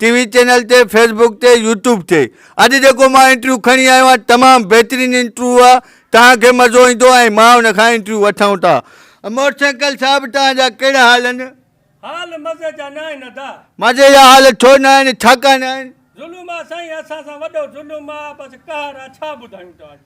ٽي V channel تي Facebook تي YouTube تي اڄ جيڪو مان انٽرويو کڻي آيو آهيان تمام بهترين انٽرويو آهي توهان کي مزو ايندو ۽ مان ان کان انٽرويو وٺون ٿا موٽرسائيڪل صاحب توهان جا ڪهڙا حال آهن حال مزي جا نه آهن ادا. مزي جا حال ڇو نه آهن ڇاڪان نه آهن. ظلم آ سائين اسان سان وڏو ظلم آ بس قهر آ ڇا ٻڌايون توهان کي.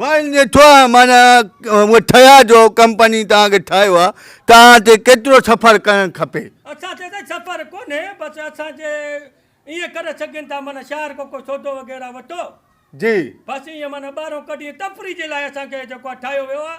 وائل جي ٺوهه معنيٰ اهي ٺهيا جو ڪمپني توهان کي ٺاهيو آهي، توهان تي ڪيترو سفر ڪرڻ کپي؟ اسان تي ته سفر ڪونهي، بس اسان جي ائين ڪري سگهين ٿا معنيٰ شهر کان ڪو سودو وغيره وٺو، جي. بس ائين معنيٰ ٻاهران ڪڍي تفريح جي لاء اسان کي جيڪو آهي ٺاهيو ويو آهي،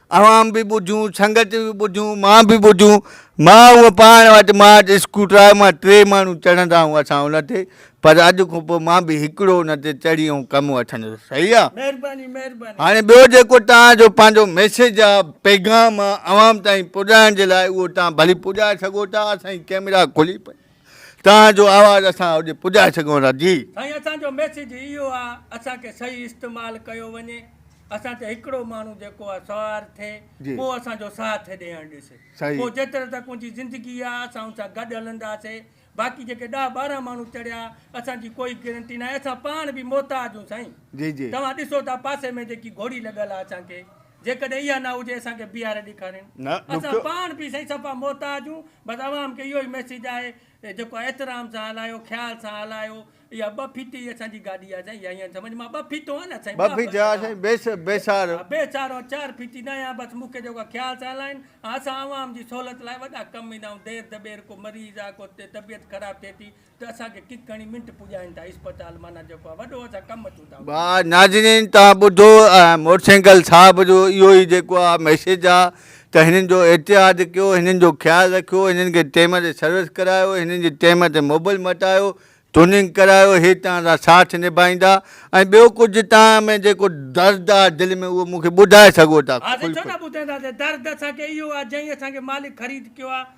اوهان به ٻجهون، سنگت به ٻجهون، مان به ٻجهون. مان هونء پاڻ وٽ مارچ اسڪوٽر آهي، مان ٽي ماڻهو چڙهندا هون اسان ان تي، پر اڄ کان پوء مان به هڪڙو ان تي چڙهي ۽ ڪم وٺندس. صحيح آ؟ مهرباني مهرباني. هاڻي ٻيو جيڪو توهان جو پنهنجو ميسيج آ، پيغام آ، عوام تائين پڄائڻ جي لاء اهو توهان ڀلي پڄائي سگهو ٿا، اسان جي ڪئميرا کلي پئي. توهان جو آواز اسان اوڏي پڄائي سگهون ٿا جي. سائين اسان جو ميسيج اهو آ اسان کي صحيح استعمال ڪيو وڃي اسان تي هڪڙو ماڻهو جيڪو آ سوار ٿئي پو اسان جو ساٿ هيڏي هڻ ڏس پو جيتري تڪ ان جي زندگي آ اسان ان سان گڏ هلنداسي باقي جيڪي ڏهه ٻارهن ماڻهو چڙيا اسان جي ڪوئي گرنٽي ناهي اسان پاڻ به محتاج هون سائين توهان ڏسو ٿا پاسي ۾ جيڪي گهوڙي لڳل آ اسان کي جيڪڏهن اها نه هجي اسان کي بيهاري ڏيکارين اسان پاڻ به سائين صفا محتاج هون بس عوام کي اهو ئي ميسيج آهي ته جيڪو احترام سان هلايو خيال سان هلايو اها ٻه ڦيتي ئي اسان جي گاڏي آهي سائين اها ائين سمجهه مان ٻه ڦيتو آهيان نه سائين ٻه ڦيتو آهيان سائين بي سهارو ها بي سهارو آهيان چار ڦيتي نه آهيان بس مون کي جيڪو خيال سان هلائين ها اسان عوام جي سهولت لاء وڏا ڪم ايندا آهيون دير دٻير ڪو مريض آهي ڪو طبيعت خراب ٿئي ٿي ته اسان کي ڪڪ هڻي منٽ پڄائين ٿا اسپتال معنيٰ جيڪو آهي وڏو اسان ڪم اچون ٿا اتي. واھ ناظرين توھان ٻڌو ۽ موٽسينگل صاحب جو اھو ئي جيڪو آ ميسيج آ ته ھنن جو احتياط ڪيو ھنن جو خيال رکيو ھنن کي ٽيم تي سروس ڪرايو ھنن جي ٽيم تي موبل مٽايو ٽوننگ ڪرايو ھي توھان سان ساٿ نڀائيندا ۽ ٻيو ڪجھ توھان ۾ جيڪو درد آ دل ۾ اھو مونکي ٻڌائي سگھو ٿا ھا سائين ڇو نه ٻڌائينداسين درد اسان کي اھو آ جئين اسان کي مالڪ خريد ڪيو آ.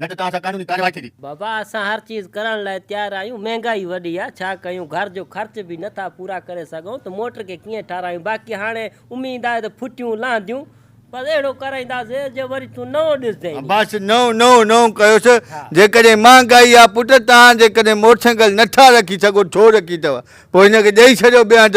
نه ته توهان سان قانوني ڪارروائي ٿيندي. بابا اسان هر چيز ڪرڻ لاء تيار آهيون مهنگائي وڏي آ ڇا ڪيون گهر جو خرچ به نه ٿا پورا ڪري سگهون ته موٽر کي ڪيئن ٺاراهيون باقي هاڻي اميد آهي ته ڦٽيون لهنديون بس اهڙو ڪرائينداسي جو وري تون نئون ڏسجين ني. عباس نئون نئون نئون ڪيوس جيڪڏهن مهنگائي آ پٽ تان جيڪڏهن موٽرسائيڪل نه ٺا رکي سگهو ڇو رکي اٿو پوء هن کي ڏئي ڇڏيو ٻيا هنڌ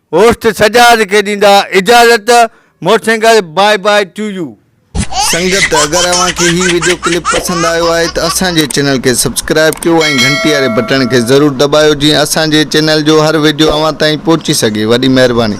هوسٽ سجاد کي ڏيندا اجازت مور سنگهل باء باء ٽو يو. سنگت اگر اوهان کي هي وڊيو ڪلپ پسند آيو آهي ته اسان جي چينل کي سبسڪرائب ڪيو ۽ گهنٽي واري بٽڻ کي ضرور دٻايو جيئن اسان جي چينل جو هر وڊيو اوهان تائين پهچي سگهي وڏي مهرباني.